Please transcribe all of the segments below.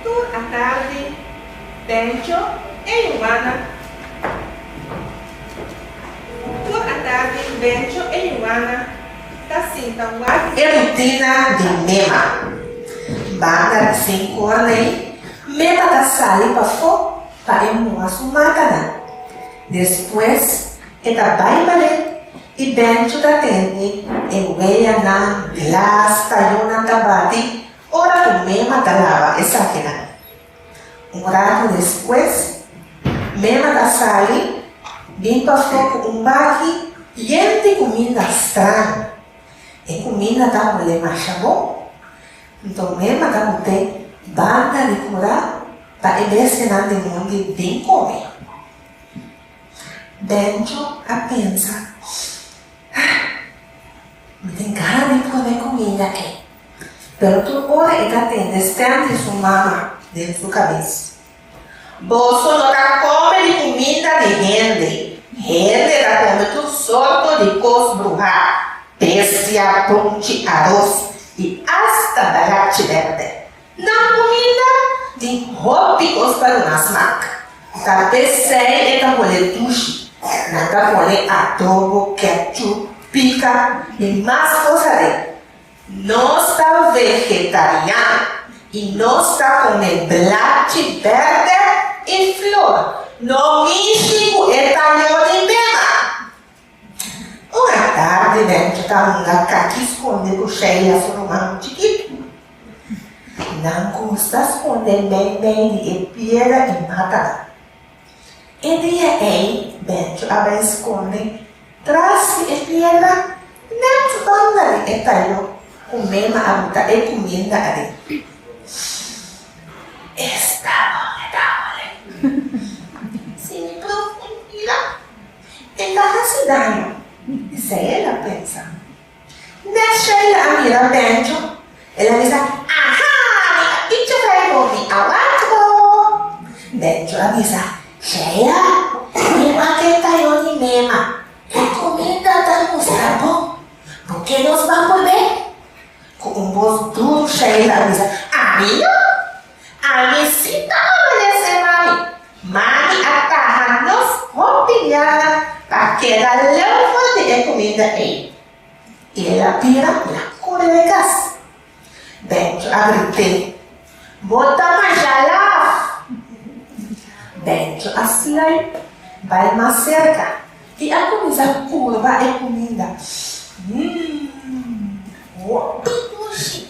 Tur a tardi, Bencho, Ey Juana! Tur a tardi, Bencho, Ey Juana! Ta sinta wak. E rutina di Mema. Banda di sin kor nei, Mema ta sali pafó pa e muha su matanan. Despues e ta bai balé i Bencho ta tende e weyanan, blas, tayonan ta bati. Ora ku Mema ta laba esakinan, un ratu despues Mema ta sali bin pafó ku un baki yen di kuminda straño. E kuminda ta olé masha bon. Nton Mema ta but'é banda di kura pa e bestianan di mondi bin kome. Bencho a pensa, Ah, mi tin gana di pone kuminda ei. Pero tur ora e ta tende sperm di su mama den su kabes. Boso no ta kome di kuminda di hende, hende ta kome tur sorto di kos bruhá, bestia, punchi, aros i asta dalachi bèrdè. Nan kuminda tin hopi kos pa duna smak, ta p'esei e ta hole dushi. Nan ta pone adobo, ketchup, pika i mas kos alei. Nos ta vegetarian y nos ta come blachi berde y flor. No mishi cu e taño di bema. Un atardi dentro ta hunga caki sconde cu Shelley a su ruman chikitu. Nan gusta sconde meimei di e piedra y mata nan. E dia ei Benjo a bai skonde tras di e piedra nèt banda di e tayo ku Mema a buta e kuminda aden. Esta bon e ta hòlè. Si mi pròp un pila, e ta hasi daño, esei el a pensa. Mes Sheila a mira Benjo, el a bisa, Aha! Mi a picha bay bo, mi a wak bo! Benjo a bisa, Sheila, mi wak e tayoni mema, e cuminda ta gusta bo, bo ke nos ba pone? Cu un bos duru Sheila a bisa, Ami no! Ami si ta obedesé mami. Mami a taha nos hopi biaha pa keda leu for di e kuminda ei. I el a bira na kura e kas. Bèntjo a grit'é, Bo ta masha laf! Bèntjo a sluip bai mas serka i a kuminsá purba e kuminda. Mmm, hopi dushi!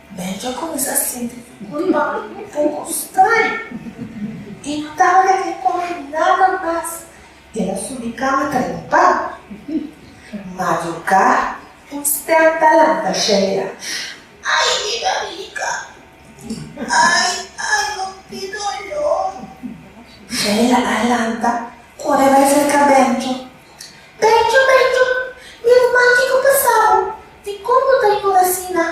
Benji a cuminsa sinti culpabel un poco straño y no tabata kier come nada mas. El a subi cama ta limpa. Madruga, un stem ta lanta Sheila, Ay mi barriga! Ay, ay, no di dolor! Sheila a lanta, core bay cerca Benjo Becho, becho, mi ruman ki no casao, dicon bo ta yura asina?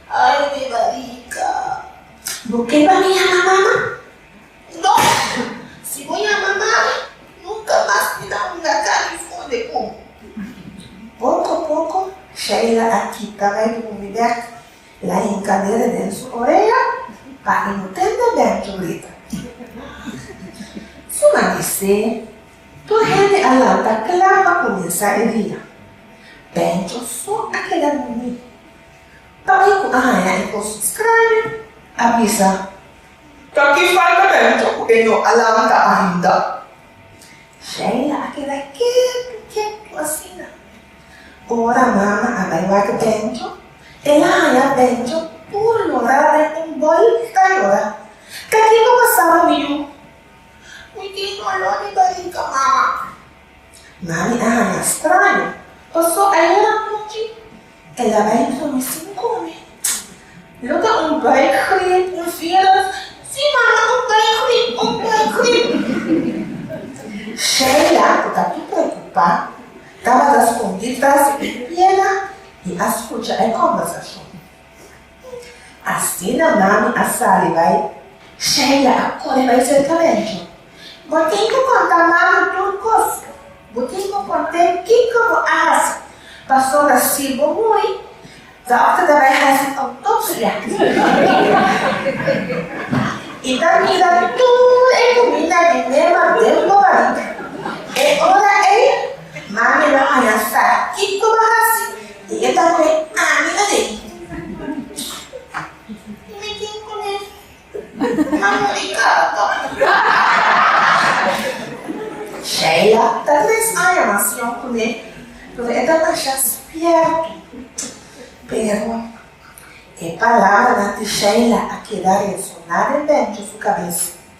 Ay, mi bariga! Bo keba mi yama mama? No! Si bo yama mami, nunca mas mi ta hunga cani funde con bo. Poco, poco, Sheila a kita bay di bumi bek, el a hinca dede den su orea pa e no tende Becho brita. Su mami sey. Tur hende a lanta kla pa kuminsá e dia. Pèncho so a keda durmí. Pape ku a haña e kos straño a bisa. Ta ki falta Pèncho ku e no a lanta ainda? Sheila a keda ketu ketu asina. Ora mama a bai wak Pèncho, el a haña Pèncho tur lorá den un bòlta lorá. Ta kiko pasá ku mi yu? Mi tin oló di barika mama. Mami a haña straño, pasó ayer anochi el a bai entro mi sin come. Lo ke un buik grip, un virus. Sí mama, un buik grip, un buik grip. Sheila, ku ta tur preokupá, tabata skondí tras e piela i a skucha e kòmbersashon. Asina mami a sali bai, Sheila a kore bai serka Benjo. Bo tin ku konta mami tur kos. Bo tin ku kont'é kiko bo a hasi, pasobra si bo muri, dòkter ta bai hasi outopsia. I ta mira tur e kumina di Nema den bo bariga. E ora ei, mami lo haña sa kiko bo a hasi. Di e tambe ami a lei. I mi tin ku mi mama di kaba. Sheila ta tres aña mas yòn ku mi, pero e ta masha spiertu. Pero e palabranan di Sheila a keda resoná den dentro su kabes.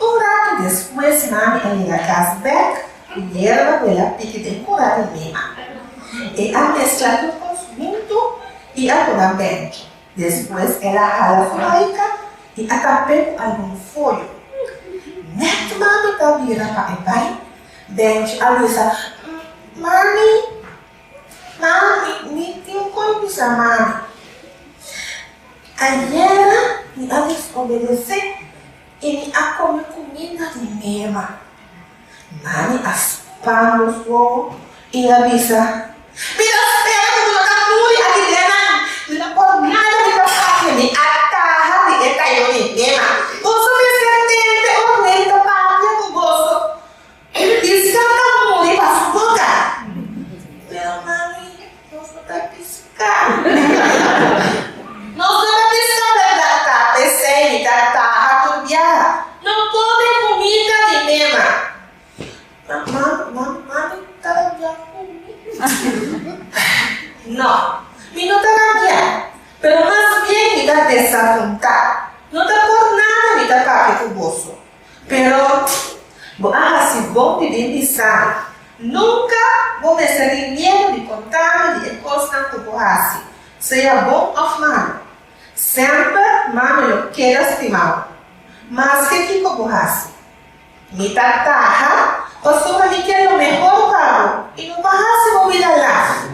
Un ratu despues mami a yega kas bèk ku yerba wela piki den kura di lima. E a meskla tur kos huntu i a puna bèntro. Despues el a hala furaika i a tap'é ku algun foyo. Nèt mami ta bira pa e bai, bèntro a bisa, Mami, mami, mi tin un kos bisa mami. Ayera mi a desobedesé. I mi a kome kumida di mema. Mami a span nos wowo i a bisa, Mi ta spera ku bo no ta muri aki den nan. Mi no por nada di papasha, mi a taha di e tayo di mema. Boso mester tente ora mi ta papia ku boso. E lo tin scanta pa muri pa su boca. Well mami, nos no ta pisca. Nos no ta pisca berdad ta, pesey mi ta taha tur biaha. No come cumida mi mema. Ma mami, mami, mami ta rabia cu mi. No, mi no ta rabia, pero mas bien mi ta desapunta. No ta por nada mi ta papia cu boso. Pero bo a hasi bon di bin di sano. Nunka bo mester tin miedu di contami di e cosnan cu bo hasi, sea bon of malo. Semper mami lo keda stimao, maske kico bo hasi. Mi ta taha pasobra mi kier lo mehor pa bo y no pa hasi bo bida laf.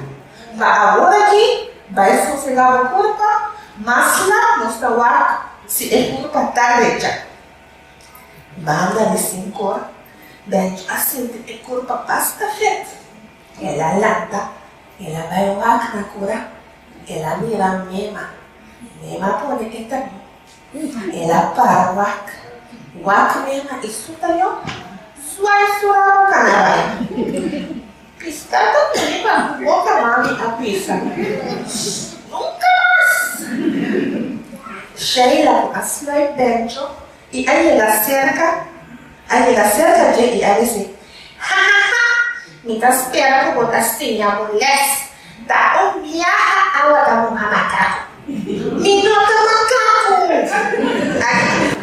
Pa awor aki, bay sosega bo curpa, mas lap nos ta wak si e curpa ta recha. Banda di sin kor, Bert a sinti e kurpa basta fèt. El a lanta, el a bai wak na kura, el a mira Mema. Mema pone e tren. El a para wak. Wak Mema i su tayó, suai su rabo kana bai. Kristal ta tene pa ku boka mami a pisa, Nunka mas! Sheila a sluip dentro i a yega serka, a yega serka dje i a disi, Ha ha ha! Mi ta spera ku bo ta siña bo lès, ta un biaha awa ta un amakaku. Mi no ta makaku! Aki.